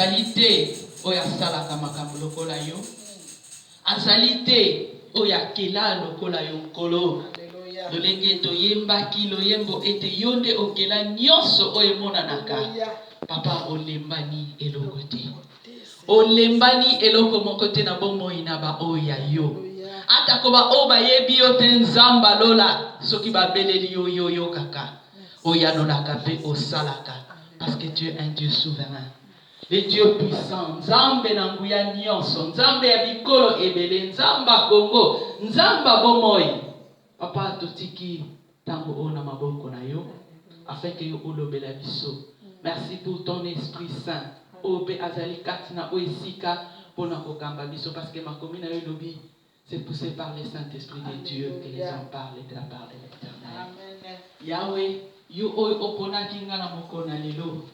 azali te oyo asalaka makambo lokola yo azali te oyo akela lokola yo nkolo lolenge toyembaki loyembo ete yo nde okela nyonso oyo emonanaka papa olembani eloko te Olembani eloko moko te na bomoi na baoyo ya yo. Atako baoyo bayebi yo te, Nzamba lola, soki babeleli yo, yo oyokaka, oyanolaka mpe osalaka, parce que tu es un Dieu souverain, le Dieu puissant, Nzambe na nguya nionso, Nzambe ya bikolo ebele, Nzamba Kongo, Nzamba bomoi. Papa, totiki tango oyo na maboko na yo afin que yo olobela biso merci pour ton esprit saint oyo pe azali kati na oyo esika pona kokamba biso parce que makomi na yo elobi c'est pousse par le saint esprit de Dieu que les hommes parlent de la part de l'eternel yahwe yo oyo oponaki nga na mokolo na lelo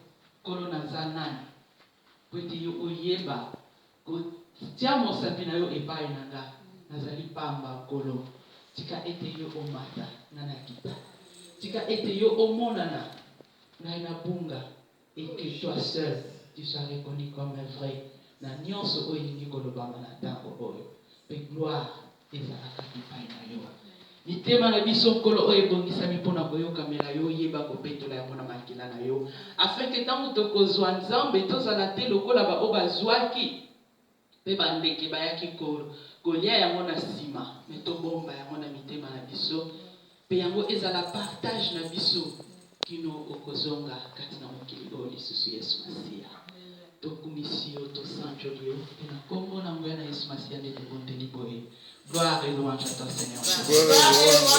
nkolo naza nani Mpo ete yo oyeba kotia mosapi na yo epayi na nga, nazali pamba, Nkolo. Tika ete yo omata, nga nakita. Tika ete yo omonana, ngai nabunga, et que toi seul, tu sois reconnu comme vrai na nionso oyo elingi kolobama na tango oyo. Mpe gloire. Ezalaka epai na yo. Mitema na biso, Nkolo, oyo ebongisami mpo na koyokamela Yo, yeba kopetola yango na makila na Yo, afin que ntango tokozua, Nzambe, tozala te lokola baoyo bazuaki mpe bandeke bayaki ko, kolia yango na sima, mais tobomba yango na mitema na biso. Pe yango ezala partage na biso kino okozonga kati na mokili oyo lisusu, Yesu Masiya. Tokumisi yo, tosanjoli yo, pe na Kombo na nguya na Yesu Masiya nde tobondeli boye. Gloire et louange à toi, Seigneur Jesus.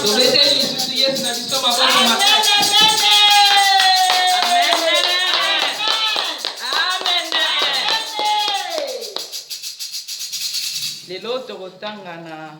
Tobeteli lisusu Yesu na biso maboko makasi. Lelo tokotanga na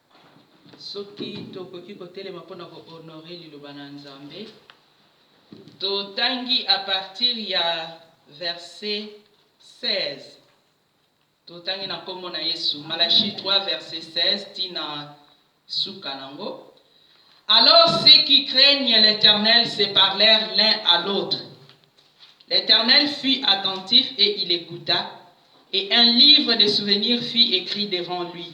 Soki tokoki kotelema mpo na ko honorer liloba na Nzambe, totangi à partir ya verset 16, totangi na nkombo na Yesu, Malachie 3 verset 16 ti na suka nango, Alors ceux qui craignent l'Eternel se parlèrent l'un à l'autre, l'Eternel fut attentif et il ecouta, et un livre de souvenirs fut ecrit devant lui.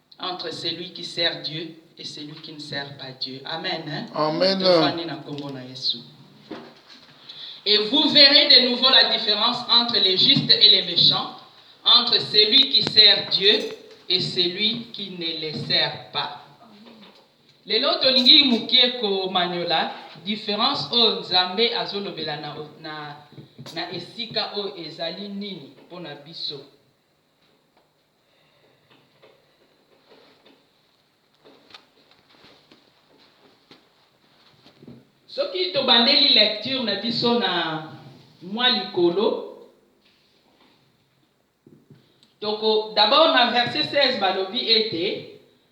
entre celui qui sert Dieu et celui qui ne sert pas Dieu amen hein amen tofandi na kombo na Yesu et vous verrez de nouveau la différence entre les justes et les méchants entre celui qui sert Dieu et celui qui ne les sert pas lelo tolingi mokie komanyola différence oyo nzambe azolobela na, na, na esika oyo ezali nini mpo na biso Soki tobandeli lecture na biso na mwa likolo, toko d'abord na verset 16 balobi ete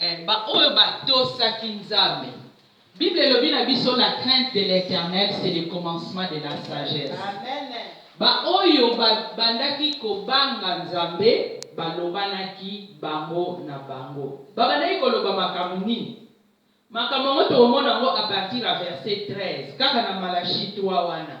Ee, baoyo batosaki Nzambe. Bible elobi na biso la crainte de l'Eternel c'est le commencement de la sagesse. Baoyo babandaki kobanga Nzambe balobanaki bango na bango. Babandaki koloba makambo nini? Makambo yango tokomona yango à partir ya verset 13, kaka na Malachie trois wana.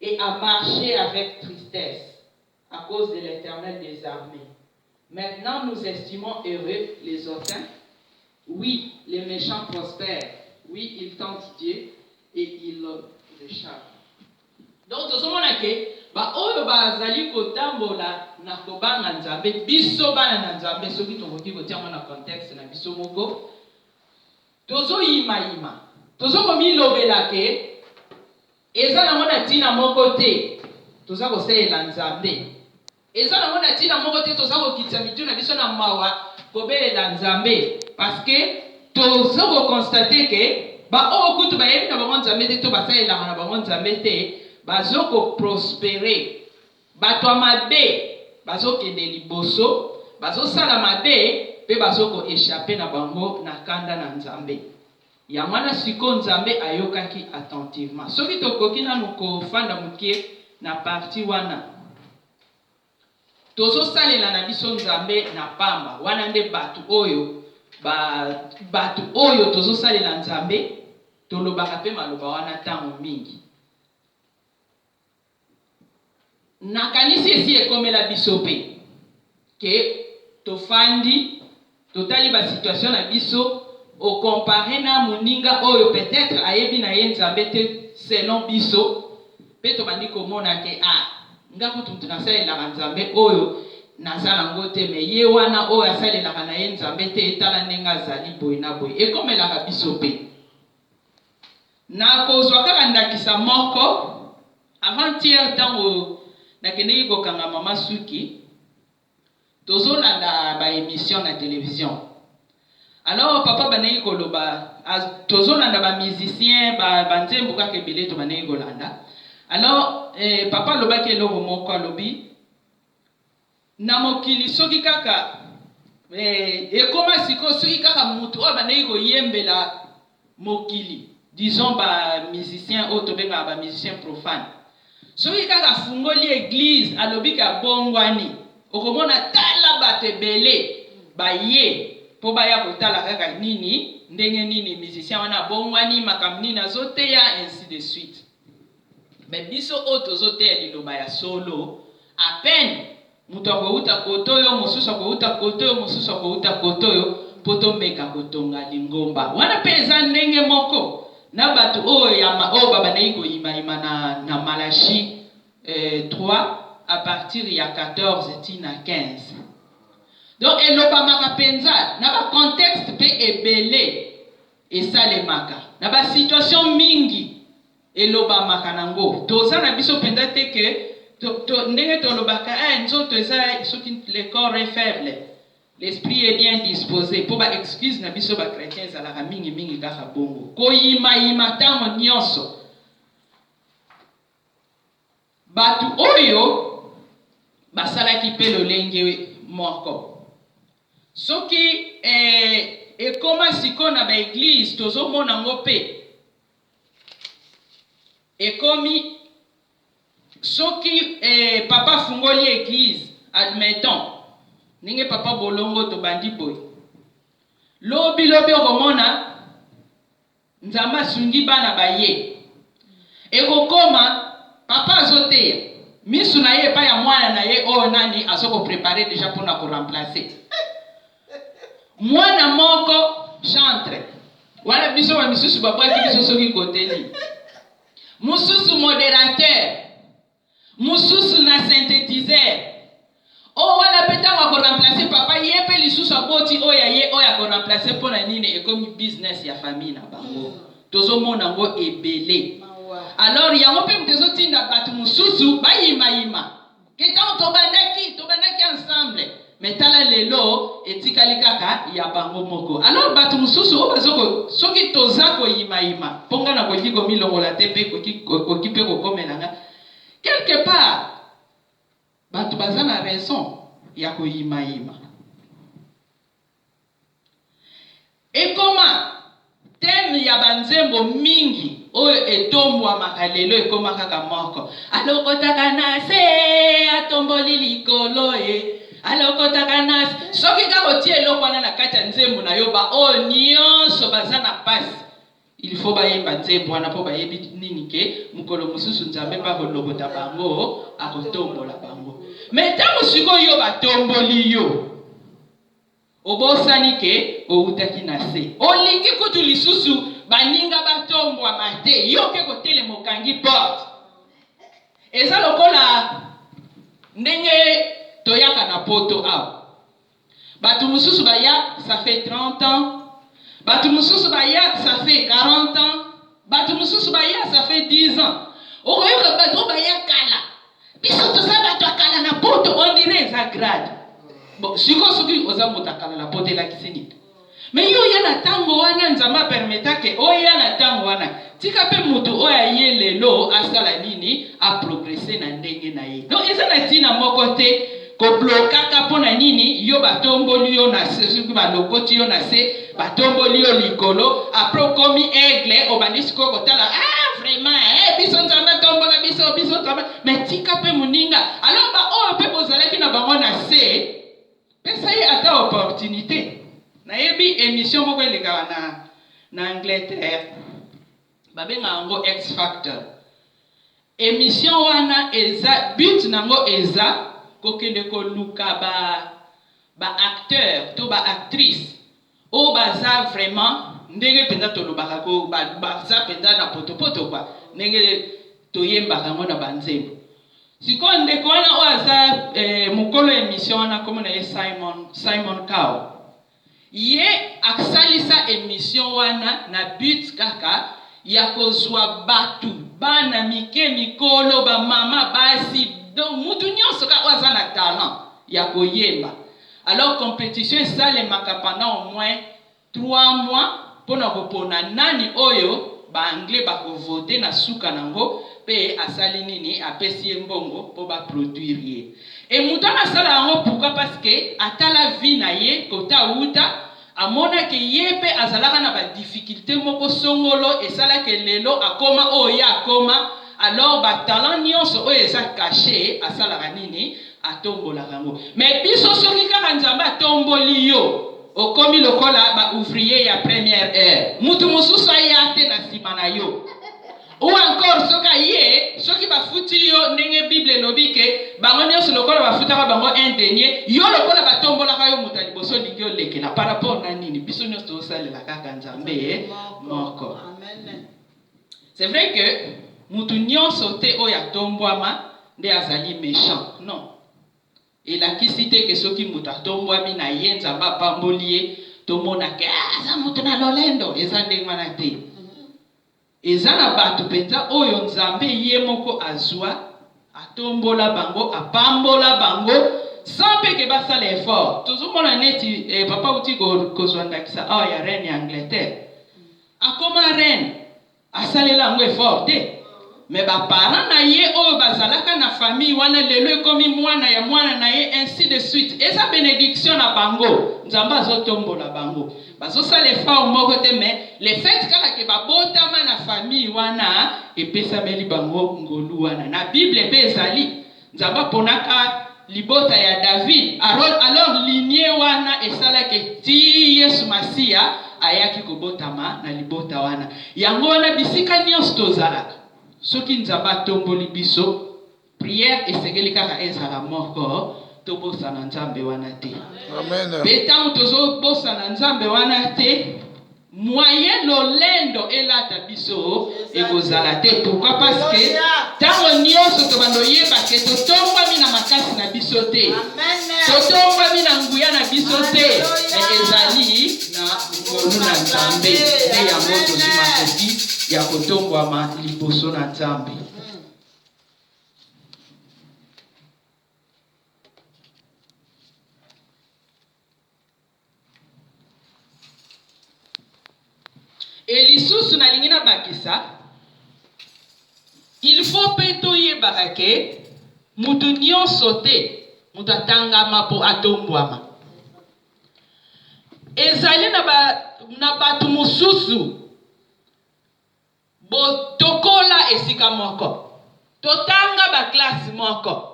et à marcher avec tristesse à cause de l'Eternel des armees maintenant nous estimons heureux les hautains oui les mechants prospèrent oui ils tentent Dieu et ils l'echappent. Donc tozomona ke baoyo bazali kotambola na kobanga Nzambe, biso bana na Nzambe, soki tokoki kotia yango na contexte na biso moko, tozoyimayima, tozokomilobela ke Eza nango na tina moko te toza kosalela Nzambe. Eza nango na tina moko te toza kokitisa mitu na biso na mawa kobelela Nzambe parce que tozo ko constater que ba oyo kutu bayebi na bango Nzambe te to basalelaka na bango Nzambe te bazo ko prosperer. Batu ya mabe bazo kende liboso, bazo sala mabe pe bazo ko echapper na bango na kanda na Nzambe. Yango wana sikoyo Nzambe ayokaki attentivement. Soki tokoki nanu kofanda mukie na partie wana. Tozosalela na biso Nzambe na pamba. Wana nde batu oyo ba batu oyo tozosalela Nzambe tolobaka pe maloba wana tango mingi. Nakanisi esi ekomela biso pe que tofandi totali ba situation na biso o comparer na muninga oyo peut etre ayebi na ye Nzambe te selon biso pe tobandi komona que ah nga kutu mutu nasalelaka Nzambe oyo naza na ngo te mais ye wana oyo asalelaka na ye Nzambe te tala ndenge azali boye na boye ekomelaka biso pe Nakozwa kaka ndakisa moko, avant-hier tango nakendeki kokanga mama suki, tozolanda ba emissions na television, alors papa abandaki koloba, tozolanda ba musiciens, ba nzembo kaka ebele tobandaki kolanda, alors papa alobaki eloko moko, alobi. na mokili soki kaka eh, ekoma sikoyo soki kaka mutu oyo abandaki koyembela mokili disons ba musiciens oyo tobengaka ba musiciens profane soki kaka afungoli eglise alobi ke abongwani okomona tala bato ebele baye po baya kotala kaka nini ndenge nini musicien wana abongwani makambo nini azoteya ainsi de suite Mais biso oyo tozo teya liloba ya solo a peine mutu akowuta cote oyo mosusu akowuta cote oyo mosusu akowuta cote oyo po tomeka kotonga lingomba wana pe eza ndenge moko na batu oyo ya oyo babandaki koyima yima na na Malachie eh trois a partir ya 14 ti na 15 donc elobamaka penza na ba contexte pe ebele esalemaka na ba situation mingi Elobamaka nango toza na biso penza te que to to ndenge tolobaka eh nzoto eza soki le corps est faible l'esprit est bien dispose po ba excuses na biso ba chretiens ezalaka mingi mingi kaka bongo koyima yima tango nionso batu oyo basalaki pe lolenge moko soki eh, ekoma sikoyo na ba eglise tozomona ngo pe ekomi soki papa afungoli eglise admettons ndenge papa bolongo tobandi boye lobi lobi okomona nzambe asungi bana baye ekokoma papa azoteya misu na ye epai ya mwana na ye oyo nani azo ko preparer deja pona ko remplacer Mwana moko chantre, wana biso ba misusu ba bwaki biso soki koteli, mususu moderateur, mususu na synthetiseur, oyo wana pe tango ako remplacer papa ye pe lisusu aboti oyo ya ye oyo ako remplacer pona nini ekomi business ya famille na bango tozo mona ngo ebele alors yango pe mutu ezo tinda batu mususu ba yima yima Ke tango tobandaki, tobandaki ensemble. Mais tala lelo, etikali kaka ya bango moko. Alors batu mosusu oyo bazo ko, soki toza koyima ima, po nga nakoki komilongola te pe ekoki, ekoki pe kokomela nga, quelque part batu baza na raison ya koyima ima. Ekoma, thème ya ba nzembo mingi oyo etombwamaka lelo ekoma kaka moko, Alokotaka na se, atomboli likolo e, alokotaka na se. Soki kaka otie eloko wana na kati ya nzembo na yo, ba oyo nionso baza na pasi, il faut bayemba nzembo wana po bayebi nini ke mokolo mosusu Nzambe pe akolokota bango, akotombola bango. Mais tango sikoyo yo batomboli yo, Obosani que owutaki na se. Olingi kutu lisusu baninga batombwama te, yo oke kotelema okangi porte. Eza lokola ndenge toyaka na poto awa. Batu mususu baya ça fait 30 ans, batu mususu baya ça fait 40 ans. Batu mususu baya ça fait 10 ans. Okoyoka batu oyo baya kala. Biso toza batu ya kala na poto on dirait eza grade. Bon, siko soki oza moto ya kala na poto elakisi nini? Mais yo oya na tango wana Nzambe a permeta ke oya na tango wana. Tika pe mutu oyo aye lelo asala nini? A progresser na ndenge na ye. Donc eza na tina moko te. Ko blokaka pona nini yo ba tomboli yo na se soki ba lokoti yo na se ba tomboli yo likolo apres okomi aigle obandi sikoyo kotala ah vraiment eh biso nzambe atombola biso biso nzambe mais tika pe muninga alors ba oyo pe bozalaki na bango na se pesa ye ata opportunite nayebi emission moko elekaka na na Angleterre Babenga yango X factor. Emission wana eza but nango eza kokende koluka ba ba acteurs to ba actrices oyo baza vraiment ndenge penza tolobaka ko ba baza penza na potopoto quoi ndenge toyembaka yango na ba nzembo. Sikoyo ndeko wana oyo aza eh mokolo ya emission wana kombo na ye Simon Simon Cowell. Ye aksalisa emission wana na but kaka ya kozua batu, bana mike, mikolo, ba mama, basi, donc mutu nionso kaka oyo aza na talent ya koyemba. Alors competition esalemaka pendant au moins trois mois pona kopona nani oyo ba anglais bako voter na suka nango pe asali nini? Apesi ye mbongo po ba produire ye. Et mutu wana asala yango pourquoi parce que atala vie na ye cote awuta amona que ye pe azalaka na ba difficulte moko songolo esala que lelo akoma oyo ye akoma alors ba talent nionso oyo eza cache asalaka nini atombolaka yango mais biso soki kaka nzambe atomboli yo okomi lokola ba ouvrier ya première heure mutu mususu aya te na sima na yo. Ou encore soki aye soki ba futi yo ndenge bible elobi ke bango nionso lokola ba futaka bango un denier yo lokola ba tombolaka yo moto ya liboso olingi olekela par rapport na nini biso nionso tozo salela kaka nzambe ye moko c'est vrai que mutu nionso te oyo atombwama nde azali mechant non elakisi te ke soki moto atombwami na ye nzambe apamboli ye tomonaka ah, aza moto na lolendo eza ndenge wana te Eza na batu penza oyo nzambe ye moko azua atombola bango apambola bango sans pe ke basala effort tozo mona neti eh papa awuti kozua ndakisa awa ya reine ya Angleterre akoma reine asalela yango effort te mais ba parents na ye oyo bazalaka na famille wana lelo ekomi muana ya muana na ye ainsi de suite eza benediction na bango nzambe azo tombola bango Bazo sala effort moko te mais le fait kaka que ba botama na famille wana epesameli bango ngolu wana. Na bible pe ezali Nzambe aponaka libota ya David arol alors lignee wana esala que ti Yesu Masiya ayaki ko botama na libota wana. Yango wana bisika nionso tozalaka soki Nzambe atomboli biso, Prière esengeli kaka ezala moko, tobosana Nzambe wana te. Pe tango tozo bosana Nzambe wana te, moyen lolendo elata biso ekozala te. Pourquoi? Parce que tango nionso tobando yeba ke totombwami na makasi na biso te, totombwami na nguya na biso te, mais ezali na ngolu na Nzambe. Nde yango tozwi makoki ya kotombwama liboso na Nzambe. Et lisusu nalingi nabakisa il faut mpe toyebaka ke moto nyonso te moto atangama mpo atombwama ezali na, ba, na bato mosusu Botokola esika moko. Totanga ba classe moko.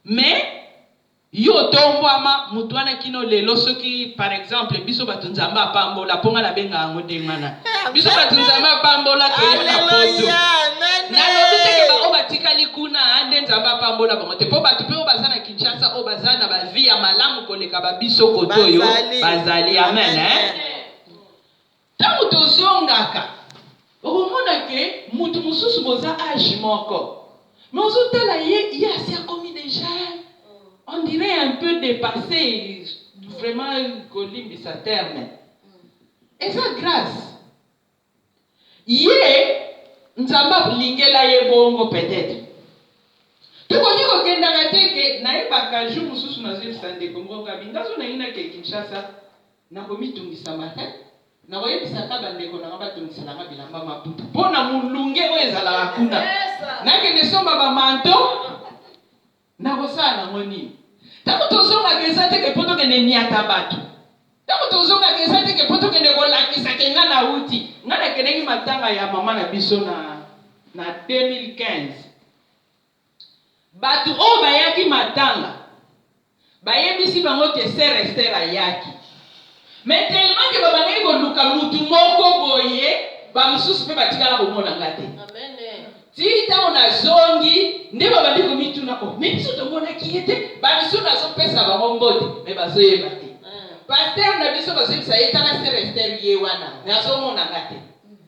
Mais yo otombwama mutu wana kino lelo soki par exemple biso batu nzambe apambola po nga na benga yango ndenge wana biso batu nzambe apambola toye na poto na lobi te ke ba oyo batikali kuna nde nzambe apambola bango te po batu pe oyo baza na Kinshasa oyo baza na ba vie ya malamu koleka ba biso kotoyo bazali amen hein Tango tozongaka okomona que mutu mususu boza age moko mais ozo tala ye ye asi akomi dejà on dirait un peu depasse vraiment kolimbisa terme eza grace ye nzambe alingela ye bongo peut etre tokoki kokendaka te que nayebaka jour mususu nazo yebisa ndeko moko Gaby nga jour nayinaki Kinshasa Na komitungisa matin, nakoyebisaka ba ndeko na nga batondisela nga bilamba Maputo po na mulunge oyo ezalaka kuna. Nakende somba ba manteau, nakosala nango nini? Tango tozongaka eza te ke po tokende niata batu, tango tozongaka eza te ke po tokende kolakisa ke nga nawuti. Nga nakendeki matanga ya mama na biso na, na 2015. Bato oyo bayaki matanga bayebisi bango que Soeur Esther ayaki mais tellement que babandaki koluka mutu moko boye, ba mosusu mpe batikala komona nga te ti tango nazongi nde babandi komituna oh mais biso tomonaki ye te, ba misusu nazo pesa bango mbote mais bazoyeba te pasteur na biso bazoyebisa ye tala Soeur Esther ye wana mais azomona nga te.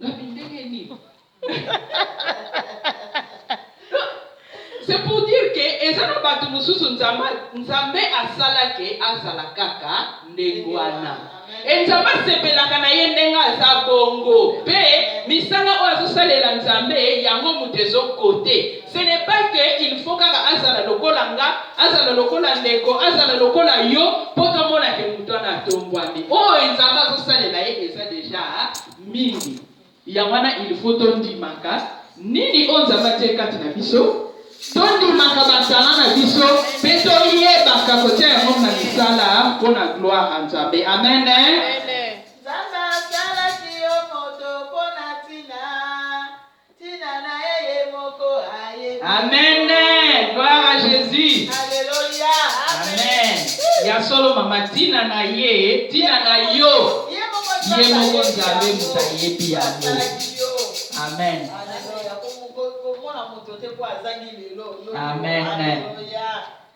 Ngabi ndenge nini? C'est pour dire que eza na batu mususu Nzambe Nzambe asala que azala kaka ndenge wana. Et Nzambe asepelaka na ye ndenge aza bongo. Pe misala oyo azo salela Nzambe yango mutu ezo cote. Ce n'est pas que il faut kaka azala lokola nga, azala lokola ndeko, azala lokola yo po tomona que mutu wana atombwami. Oyo Nzambe azo salela ye eza dejà mingi yango wana il faut tondimaka nini oyo Nzambe atie kati na biso, tondimaka ba talent na biso pe toyebaka kotia yango na misala mpo na gloire ya Nzambe. Amen. Tina na ye ye moko ayebi. Amen gloire à Jesus. Alléluia. Amen. Ya solo mama tina na ye tina na yo ye moko Nzambe moto ayebi yango. Amen. Amen.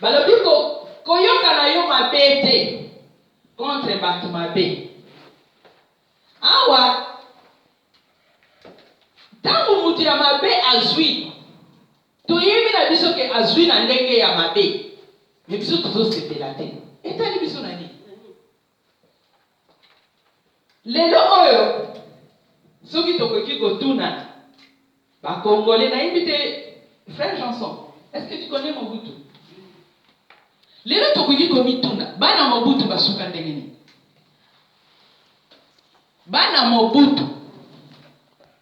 Balobi ko koyoka na yo mabe te contre batu mabe. Awa tango mutu ya mabe azui toyebi na biso ke azui na ndenge ya mabe mais biso tozo sepela te etali biso na nini? Lelo oyo soki tokoki kotuna ba congolais nayebi te frère Janson est ce que tu connais Mobutu? Lelo tokoki komituna bana Mobutu basuka ndenge nini? Bana Mobutu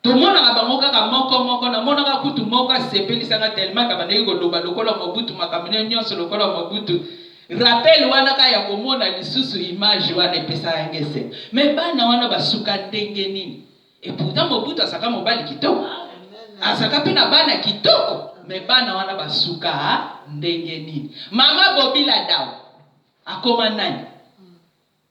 tomonaka bango kaka moko moko, namonaka kutu moko asepelisa nga tellement abandaki koloba lokola Mobutu, makambo naye nionso lokola Mobutu, rappel wana kaka ya komona lisusu image wana epesaka nga esengo, mais bana wana basuka ndenge nini? Et pourtant Mobutu azalaka mobali kitoko, azalaka pe na bana kitoko, mais bana wana basuka ndenge nini? Mama Bobi Ladawa akoma nani?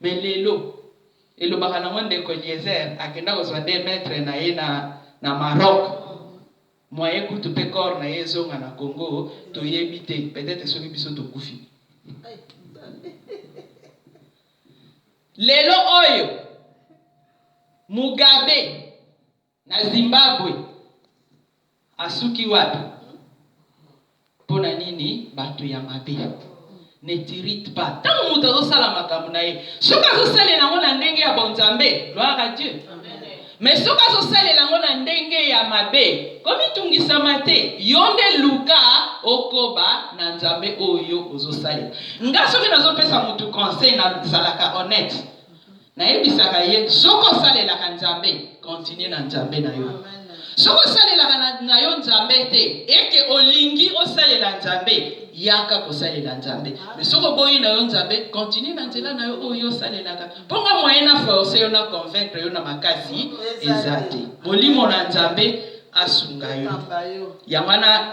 Mais lelo elobaka nango ndeko eliezer akenda kozua nde maitre naye na na Maroc moyen kutu pe corps naye ezonga na Congo toyebi te peut etre soki biso tokufi lelo oyo mugabe Na Zimbabwe asuki wapi? Pona nini batu ya mabe ne t'irrite pas tango mutu azo sala makambo na ye soki azo salela yango na ndenge ya bonzambe gloire à Dieu mais soki azo salela yango na ndenge ya mabe komitungisama te yo nde luka okoba na nzambe oyo ozo salela nga soki nazo pesa mutu conseil na zalaka honnête Nayebisaka ye soki osalelaka Nzambe, continue na Nzambe na yo. Soki osalelaka na, na yo Nzambe te, eke olingi osalela Nzambe, yaka kosalela Nzambe. Me soki oboyi na yo Nzambe, continue na nzela na yo oyo osalelaka. Mpo nga moyen na force yo na convaincre yo na makasi eza te. Molimo na Nzambe asunga yo. Yango wana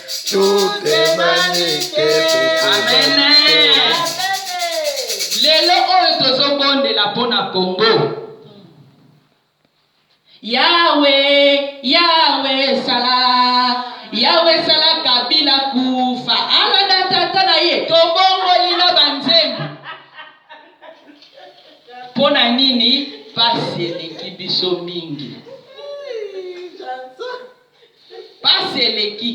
lelo oyo tozobondela mpo na kongo yawe yawe sala yawe sala kabila kufa alada tata na ye tobongoli na banzembo mpo na nini pasi eleki biso mingi Pasi eleki.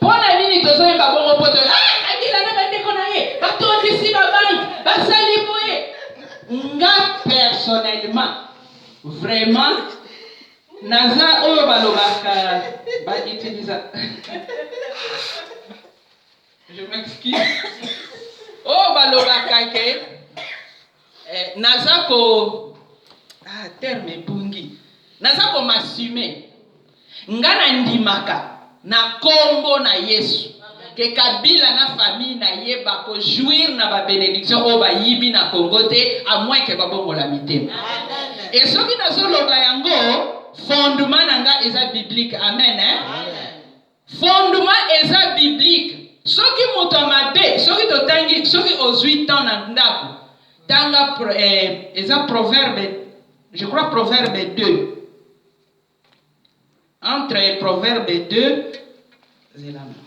Pona nini tozo yeba bongo poto ah kabila na bandeko na ye batondisi ba banque basali boye nga personnellement vraiment naza oyo balobaka ba utilisa je m'excuse oyo balobaka ke Eh, naza ko ah, terme ebungi, naza ko masume nga na ndimaka na kombo na Yesu ke Kabila na famille na ye ba ko jouir na ba benediction oyo bayibi na Congo te a moins ke babongola mitema. Et soki nazo loba yango fondement na nga eza biblique. Amen, hein? Amen. Fondement eza biblique soki moto ya mabe soki totangi soki ozui temps na ndaku tanga pro, eh, eza proverbe je crois proverbe 2 entre proverbe 2 zela na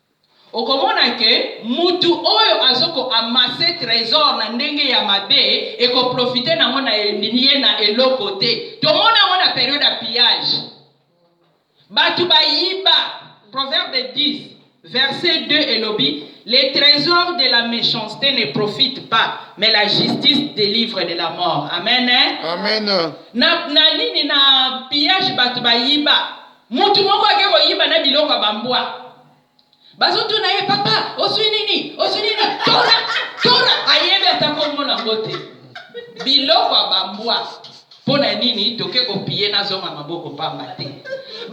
Okomona que mutu oyo azo ko amasser tresor na ndenge ya mabe eko profiter nango na endimi ye na eloko te. Tomona yango na periode ya pillage. Batu ba yiba. Proverbe 10, verset 2 elobi, Le tresor de la mechancete ne profite pas, mais la justice delivre de la mort. Amen. Amen. Na, na nini? Na pillage batu ba yiba. Mutu moko ake koyiba na biloko ya ba mbwa. Bazo tuna ye papa ozui nini? Ozui nini? Tora! Tora! Ayebi ata kombo nango te. Biloko ya ba mbwa. Pona nini toke ko piller na zonga maboko pamba te.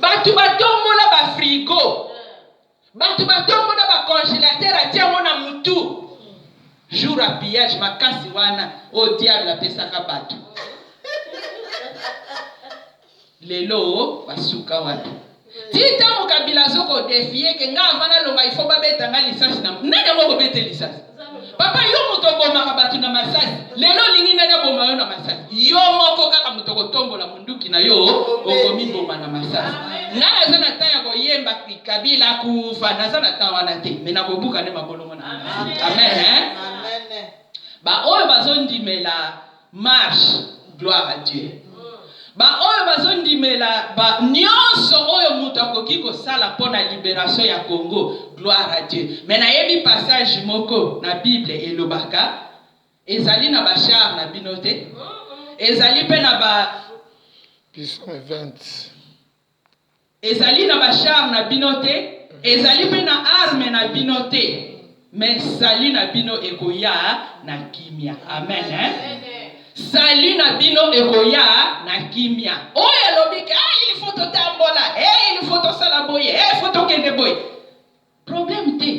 Batu ba tombola ba frigo. Batu ba tongo na ba congelateur atie yango na mutu jour ya pillage makasi wana oyo diable apesaka batu lelo ba suka wapi? Ti tango kabila azo ko defier ke nga avant na longa il faut ba beta nga lisasi na nani yango ako bete lisasi? Papa yo moto obomaka bato na masasi, lelo olingi nani aboma yo na masasi? Yo moko kaka moto okotombola munduki na yo okomiboma na masasi. Ngai naza na temps ya koyemba Kabila kufa, naza na temps wana te, mais nakobuka nde mabolongo na ngai. Amen hein. Ba oyo bazondimela Marche gloire à Dieu ba oyo bazo ndimela ba nionso oyo mutu akoki kosala pona liberation ya Congo gloire à Dieu mais nayebi passage moko na bible elobaka ezali na ba char na bino te ezali pe na ba Psaume 20. Ezali na ba char na bino te ezali pe na arme na bino te mais salut na bino ekoya na kimia amen hein salut na bino ekoya na kimia oyo alobi ke ah il faut totambola eh il faut tosala boye eh faut tokende boye Problème te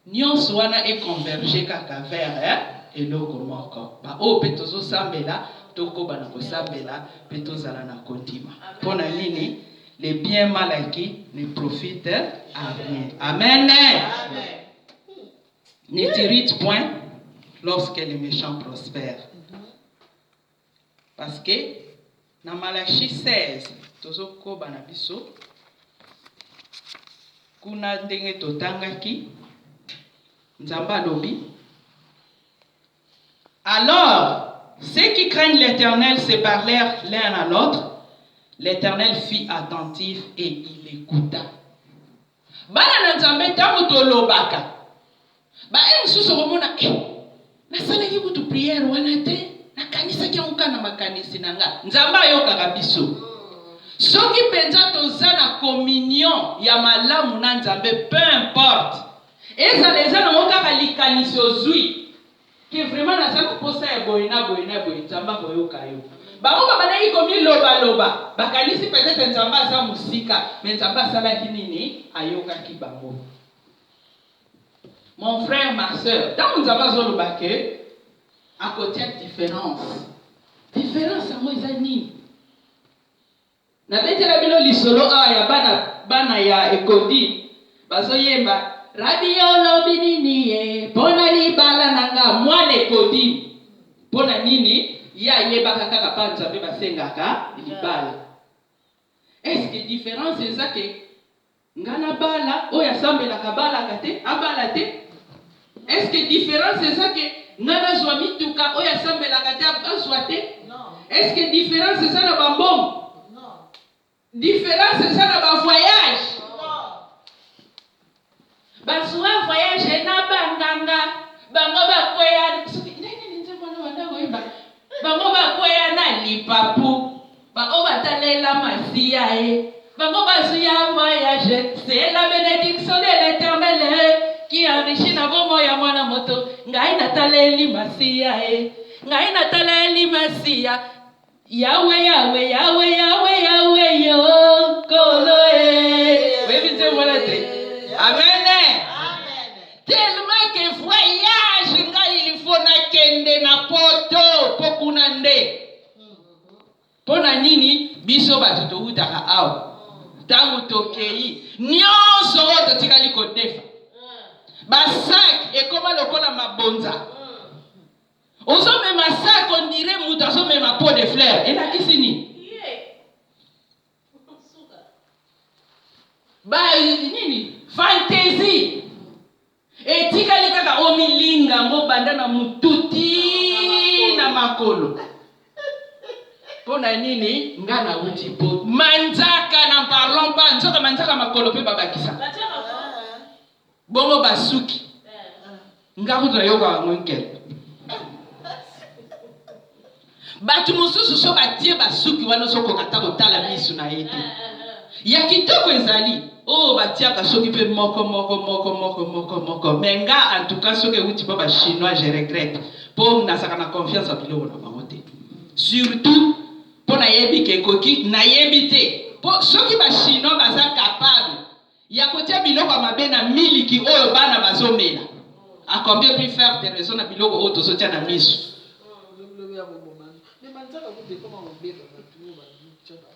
nionso wana e converger kaka vers eloko moko ba oyo pe tozo sambela tokoba na kosambela pe tozala na kondima pona nini le bien mal acquis ne profite à rien amen ne t'irrite point lorsque le mechant prospère Parce que na Malachie 16 tozo koba na biso kuna ndenge totangaki Nzambe alobi Alors ceux qui craignent l'Eternel se parlèrent l'un à l'autre, l'Eternel fit attentif et il ecouta. Bana na Nzambe, tango tolobaka, ba heure mosusu okomona eh, nasalaki kutu prière wana te, nakanisaki yango kaka na makanisi na nga. Nzambe ayokaka biso. Soki penza toza na communion ya malamu na Nzambe, peu importe, ezala eza nango kaka likanisi ozui, que vraiment naza na posa ya boye na boye na boye nzambe akoyoka yo bango babandaki komiloba loba bakanisi peut-etre nzambe aza mosika mais nzambe asalaki nini ayokaki bango mon frère ma soeur ntango nzambe azoloba que akotia difference difference yango eza nini Na betela bino lisolo awa ya bana bana ya ekondi bazo yemba Rabbi olobi nini ye pona libala na nga mwana ekondi pona nini ye ayebaka kaka pa nzambe basengaka libala est ce que difference eza ke Nga na bala oyo asambelaka abalaka te abala te est ce que difference eza ke nga nazwa mituka oyo asambelaka te azwa te est ce que difference eza na ba mbongo difference eza na ba voyage bazwa voyage na banganga bango bakweya soki ndenge nini nzembo wana wanda koyeba bango bakweya na lipapu Ba oyo ba talela masiya eh. Bango ba zwi ya voyage eh. C'est la benediction de l'Eternel eh. Qui enrichit na bomoi ya mwana moto. Ngai na taleli masiya eh. Ngai na taleli masiya. Yawe, Yawe, Yawe, Yawe, Yawe, yo, kolo eh. Oyebi nzembo wana te? Amen eh. Tellement que voyage ngai il faut nakende na poto po kuna nde Mpo na nini biso bato towutaka awa, ntango tokei, nyonso oyo totikali kodefa, basaki ekoma lokola mabonza. Ozomema saki ondire moto azomema pot de fleur, elakisi nini? Ba nini fantaisie Etikali kaka omilinga yango banda na mutu tii na makolo. Mpo na nini nga nawuti po manzaka na parlons pas nzoka manzaka makolo mpe babakisa bongo basuki nga kutu nayoka yango nkele Batu mosusu so batie basuki wana ozokoka ata kotala misu na ye te. Ya kitoko ezali oyo batiaka soki pe moko moko moko moko moko moko mais nga en tout cas soki ewuti pa ba chinois je regrette po nazalaka na confiance ya biloko na bango te surtout po nayebi ke ekoki nayebi te po soki ba chinois baza capable ya kotia biloko ya mabe na miliki oyo bana bazomela a combien plus faire de raison na biloko oyo tozotia na miso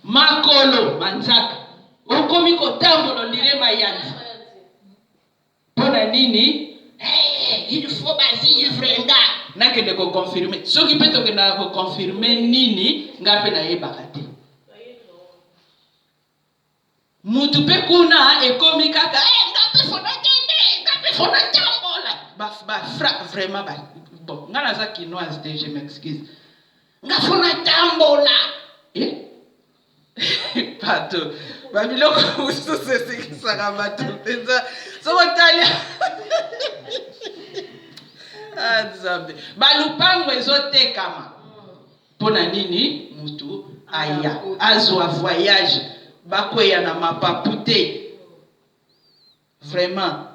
makolo manzaka okomi kotambola ondire mayanzi mpo na nini eh, il faut bavivre nga nakende koconfirme soki mpe tokendaka koconfirme nini nga mpe nayebaka te Mutu pe kuna ekomi kaka eh nga pe faut nakende, nga pe faut natambola. Ba ba fra vraiment ba bon nga naza kinoise te je m'excuse. Nga faut natambola. Eh? Bato ba biloko mosusu esekisaka bato mpenza soki otali Ah, nzambe balupango ezotekama Pona nini mutu aya azua voyage bakweya na mapapu te vraiment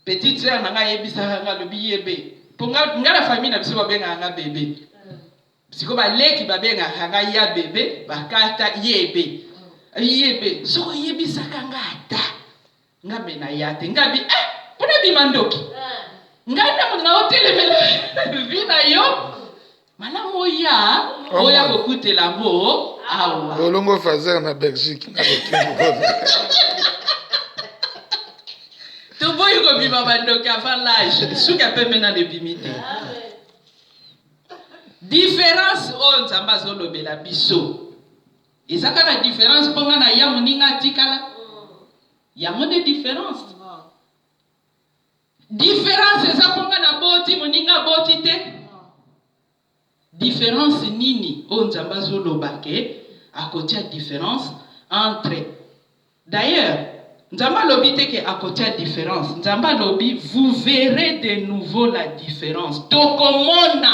petite soeur na nga ayebisaka nga alobi yebe po nga nga na famille na biso babengaka nga bebe siko ba leki babengaka nga ya bebe bakata yebe yebe soko yebisaka nga ata Nga pe na ya te nga bi eh po na bima ndoki Nga na mona o telemela vie na yo Malamu oya oya ko kutela ngo awa Bolongo fazer na Belgique na Toboyi ko bima ba ndoki avant l'âge suka pe mena ne bimi te Différence oyo Nzambe azo lobela biso Eza kaka difference po nga na ya muninga atikala yango nde difference difference eza po nga na boti muninga aboti te difference nini oyo nzambe azoloba ke akotia difference entre d'ailleurs nzambe alobi te ke akotia difference nzambe alobi vous verrez de nouveau la difference tokomona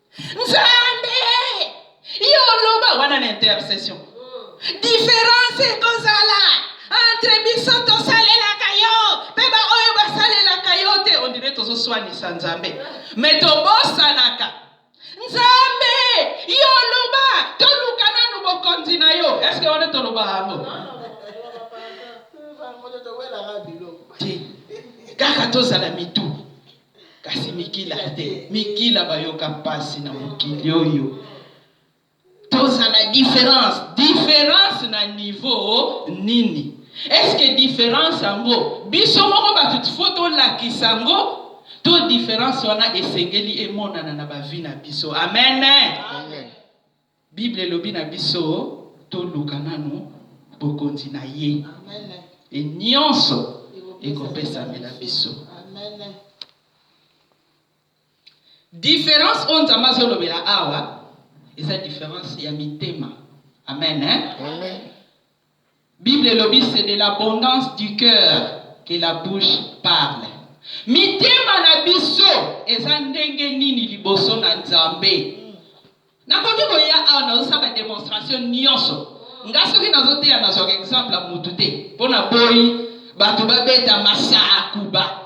Nzambe, yo oloba wana na intercession. Difference ekozala entre biso tosalelaka yo mpe baoyo basalelaka yo te, ondire tozoswanisa Nzambe me tobosanaka Nzambe, yo oloba toluka nanu bokonzi na yo. Eske wana toloba yango? Kaka tozala mitu Kasi mikila te, mikila bayoka pasi na mokili oyo. Tozala difference, difference na niveau nini? Est-ce que difference yango biso moko bato faut tolakisa yango to difference wana esengeli emonana na ba vie na biso? Amen. Amen. Bible elobi na biso toluka nanu bokonzi na ye et nionso ekopesamela biso. Difference oyo Nzambe azolobela awa eza difference ya mitema. Amen hein. Amen. Bible elobi c'est de l'abondance du coeur que la bouche parle. Mitema na biso eza ndenge nini liboso na Nzambe? Nakoki koya awa nazosala ba demonstration nionso. Nga soki nazoteya nazwaka exemple ya mutu te. Po naboyi batu babeta masaakuba.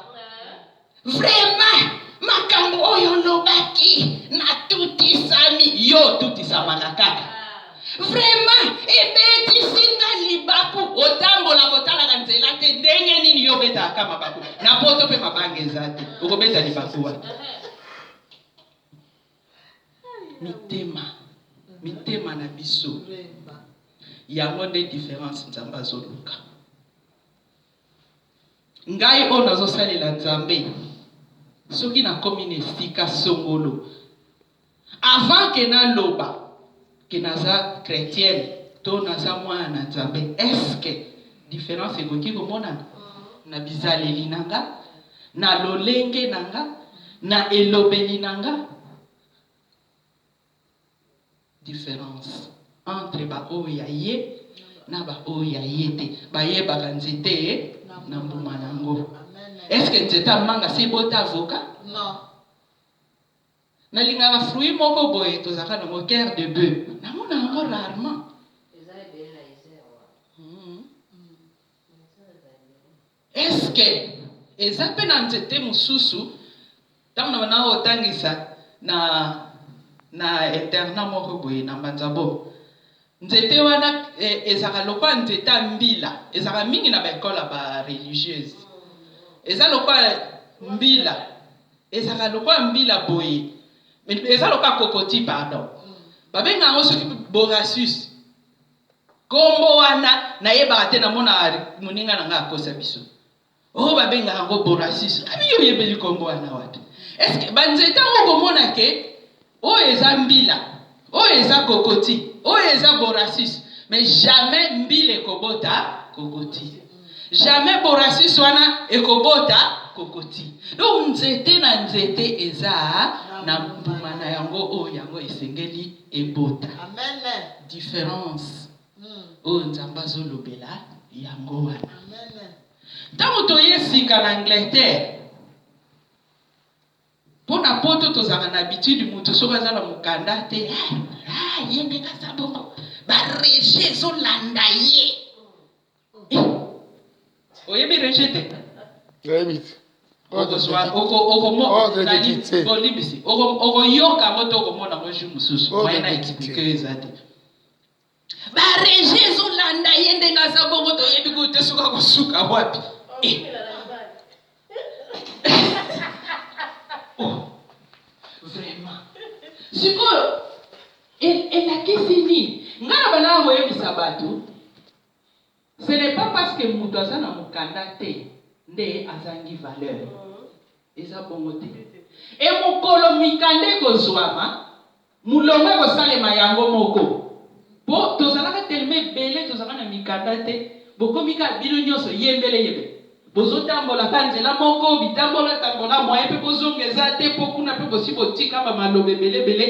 Vraiment makambo oyo olobaki natutisami yo otutisamaka kaka vraiment ebetisi nga libaku otambola kotalaka nzela te ndenge nini yo obetaka ka mabaku na poto mpe mabanga eza te okobeta libaku wapi mitema mitema na biso yango nde difference nzambe azoluka Ngai oyo nazo salela Nzambe soki na komi na esika songolo avant que na loba que naza chretienne to naza mwana na Nzambe est ce que difference ekoki ko monana na bizaleli na nga, na lolenge na nga, na elobeli na nga? difference entre ba oyo ya ye na ba oyo ya ye te. Bayebaka nzete na mbuma na yango. Est-ce que nzete ya manga si ebota avocat? Non. Nalingaka fruit moko boye tozalaka na ngo cœur de bœuf. Namona yango rarement. Est ce que eza pe na nzete mususu tango na banda kotangisa na na internat moko boye na mbanzabo nzete wana ezalaka lokola nzete ya mbila ezalaka mingi na ba ecole ya ba religieuse eza lokola mbila ezalaka lokola mbila boye eza lokola kokoti pardon babenga yango soki borasus Kombo wana nayebaka te namonaka moninga na ngai akosa biso oh babengaka yango borasiso abi yo oyebeli kombo wana wapi eske banzete yango okomona ke oyo eza mbila oyo eza kokoti oyo eza borasiso mais jamais mbila ekobota kokoti jamais borasiso wana ekobota kokoti donc nzete na nzete eza na mbuma na yango oyo yango esengeli ebota difference oyo Nzambe azolobela yango wana. Ntango toye sika na Angleterre, mpo na poto tozalaka na habitude moto soki aza na mokanda te eh, ah, ye ndenge aza bongo barege ezolanda ye oyebi rejet te nayebi te bolimbisi okoyoka yango to okomona yango jour mosusu moyen na explike eza te bareje ezolanda ye ndenge aza bongo toyebi kutu te soki akosuka wapi eh. oh, vraiment sikoyo elakisi nini ngai na banaa koyebisa bato Ce n'est pas parce que mutu aza na mukanda te nde azangi valeur. Eza bongo te. Et mukolo mikanda ekozuama, mulongo ekosalema yango moko. Po tozalaka tellement ebele tozalaka na mikanda te, bokomi kaka bino nionso yembele yembele. Bozo tambola ka nzela moko, bitambola tambola moyen pe bozonga eza te po kuna pe bosi botika ba maloba ebele ebele,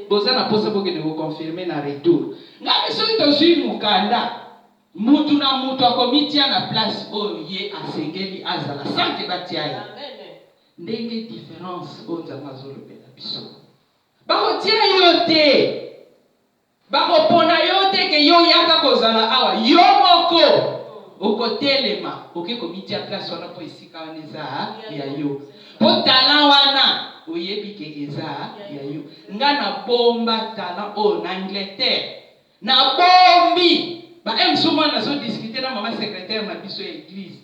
boza na posa bokende ko confirmer na retour. Nga pe soki tozui mukanda, mutu na mutu akomitia na place oyo ye asengeli azala sans que batia ye. Ndenge difference oyo Nzambe azolobela biso. Bakotia yo te! Bako pona yo te ke yo yaka kozala awa yo moko oko telema oke ko mitia place wana po esika wana eza ya yo po talent wana oyebi ke eza ya yo nga na bomba talent oyo na Angleterre na bombi ba un jour mwana azo discuter na mama secretaire na biso ya eglise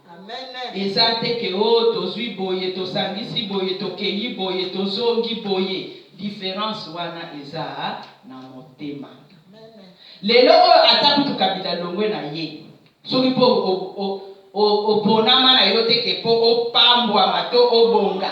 Eza te que oh tozui boye, tosangisi boye, tokeyi boye, tozongi boye. Difference wana eza na motema. Lelo oyo ata kutu Kabila alongwe na ye, soki po oponama na yo te que po opambwama to obonga,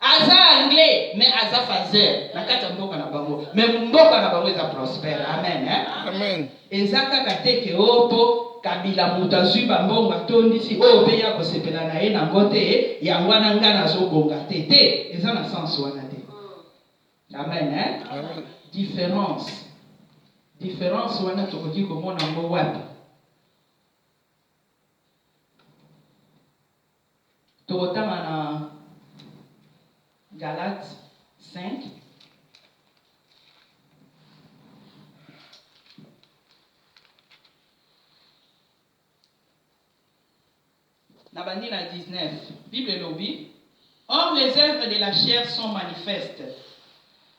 Aza anglais mais aza phaseur na kati ya mboka na bango mais mboka na bango eza prospère amen hein? Amen. Eza kaka te ke o oh, po kabila moto azui ba mbongo atondisi oyo oh, pe ya kosepela na ye na ngo te yango wana nga nazobonga te te eza na sens wana te amen hein? Amen. Difference difference wana tokoki komona ngo wapi Tokotanga na Galates 5. Nabandi na 19. Bible elobi, Or les oeuvres de la chair sont manifestes,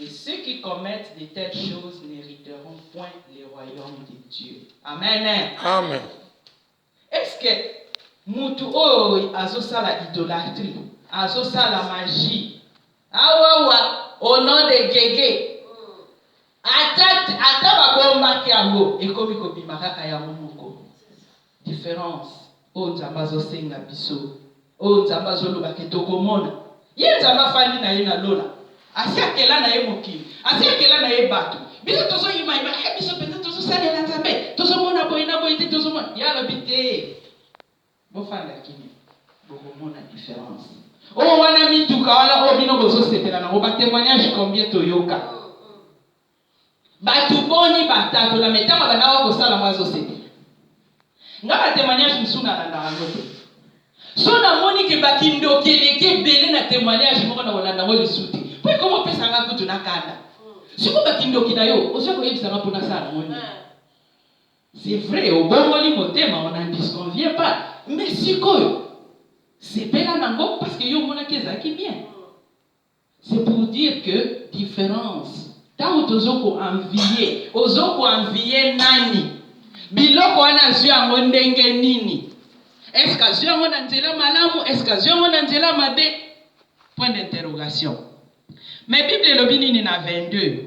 Et ceux qui commettent de telles choses n'heriteront point le royaume de Dieu. Amen. Amen. Est ce que mutu oyo azosala idolatrie, azosala magie, awawa au nom de Gege, ata ata babombaki yango ekomi kobima kaka yango moko. Difference oyo nzambe azo senga biso oyo nzambe azo loba ke toko mona ye nzambe afandi naye na lola asi akela naye mokili asi akela naye batu biso tozo imaima eh biso penza tozo salela nzambe tozo mona boye na boye te tozo mona ye alobi te bo fanda kimia boko mona difference oyo wana mituka wana oyo bino bozo sepela nango ba temoignage combien toyoka Batu boni ba tatola mais tango abandaka ko sala ngo azo sepela. Nga ba temoignage mususu na landaka yango te. Soki na moni que ba kindoki eleki ebele na temoignage moko na ko landa ngo lisusu te. Po ekomo pesa nga kutu na kanda. Sikoyo ba kindoki na yo ozo ya ko yebisa nga po na sala na ngo nini? C'est vrai obongoli motema on n'en disconvient pas mais sikoyo sepela na ngo parce que yo omonaki ezalaki bien. C'est pour dire que difference tango tozo ko envier ozo ko envier nani? Biloko wana azwi yango ndenge nini? Est-ce que azwi yango na nzela malamu? Est-ce que azwi yango na nzela mabe? Point d'interrogation. Mais Bible elobi nini na 22?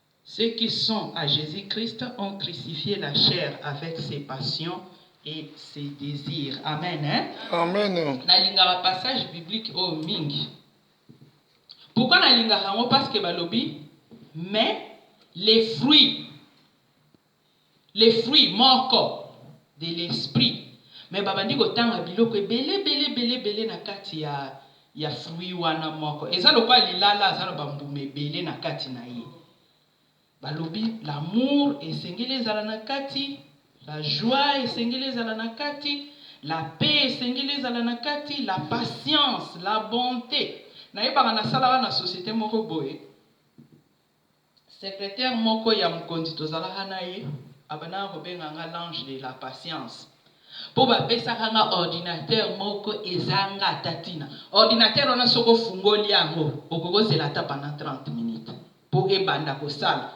Ceux qui sont à Jesus Christ ont crucifie la chair avec ses passions et ses desirs amen hein amen nalingaka passage biblique oyo mingi pourquoi nalingaka yango parce que balobi mais les fruits Le fruit moko de l'esprit mais babandi kotanga biloko ebele ebele ebele ebele na kati ya ya fruit wana moko eza lokola lilala aza na bambuma ebele na kati na ye balobi l'amour esengeli ezala na kati la joie esengeli ezala na kati la paix esengeli ezala na kati la patience la bonte nayebaka nasalaka na societe moko boye Secretaire moko ya mokonzi tozalaka na ye abandaka kobenga nga l'ange de la patience po bapesaka nga ordinateur moko ezanga ata tina. Ordinateur wana soki ofungoli yango okoki ozela ata pendant 30 minutes po ebanda kosala.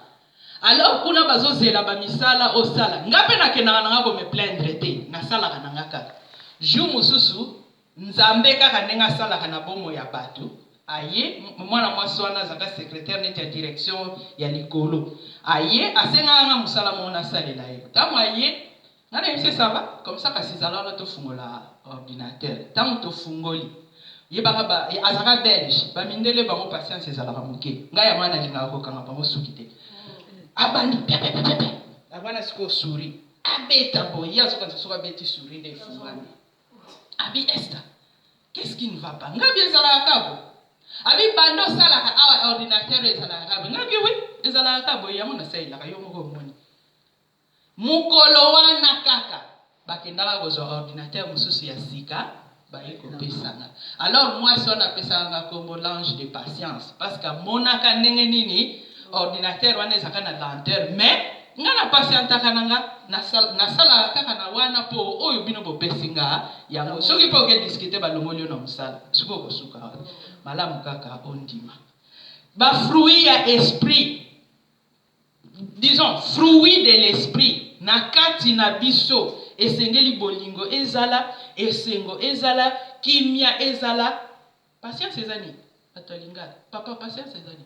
Alors kuna bazozela ba misala osala nga pe nakendaka na nga ko me plaindre te nasalaka na nga kaka. Jour mosusu. Nzambe kaka ndenge asalaka na bomoi ya bato, aye, mwana mwasi wana azalaka secretaire neti ya direction ya likolo, aye, asengaka nga mosala moko nasalela ye, tango aye, nga nayebi se ça va? Comme ça, kasi zala wana tofungola ordinateur, tango tofungoli, yebaka ba, azalaka belge, ba mindele bango patience ezalaka moke, nga yango wana nalingaka kokanga bango suki te, abandi piapiapiapia, yango wana sikoyo souris abeta boye, ye azokanisa soki abeti souris nde efungwami. Abi Esther qu'est ce qui ne va pas ngabi ezalaka kabo abi banda osalaka awa ordinateur ezalaka kabo ngabi oui ezalaka kabo yango nasalelaka yo moko omoni mokolo wana kaka bakendaka kozwa ordinateur mosusu ya sika baye kopesanga alors mwasi wana apesaka nga nkombo l'ange de patience parce que amonaka ndenge nini ordinateur wana ezalaka na lenteur mais Nga na patientaka na nga na salaka kaka na wana po oyo bino bo pesi nga yango soki pe oke discuter ba longoli yo na musala sikoyo oko suka wapi? Malamu kaka o ndima ba fruits ya esprit disons fruits de l'esprit na kati na biso esengeli bolingo ezala, esengo ezala, kimia ezala, patience eza nini? Batu ya lingala papa patience eza nini?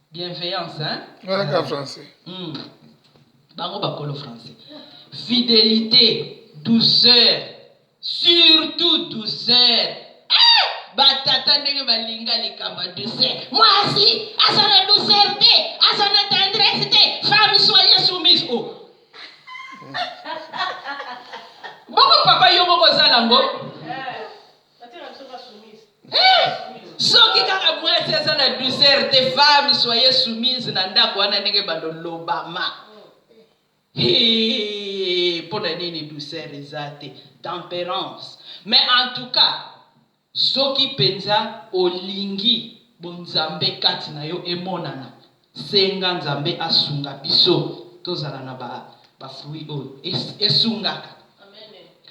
Bienveillance hein. Nga kaka français. Hum bango bakolo français. Fidelite, douceur, surtout douceur. Eh! batata ndenge balinga likambo ya douceur mwasi aza na douceur te aza na tendresse te femme soye soumise o oh. bongo papa yo moko oza nango soki kaka mwasi aza na douceur te femme soye soumise na ndako wana ndenge bando lobama mpo na nini douceur eza te temperance mais en tout cas soki mpenza olingi bonzambe kati na yo emonana Senga Nzambe asunga biso tozala na ba ba fruits oyo esungaka.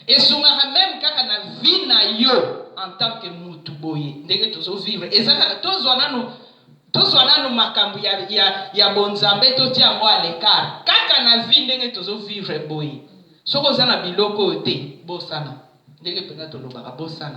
Esungaka meme kaka na vie na yo en tant que mutu boye ndenge tozo vivre eza kaka tozwa nanu tozwa nanu makambo ya ya ya bo Nzambe totia yango à l'ecart kaka na vie ndenge tozo vivre boye soki oza na biloko oyo te bosana ndenge penza tolobaka bosana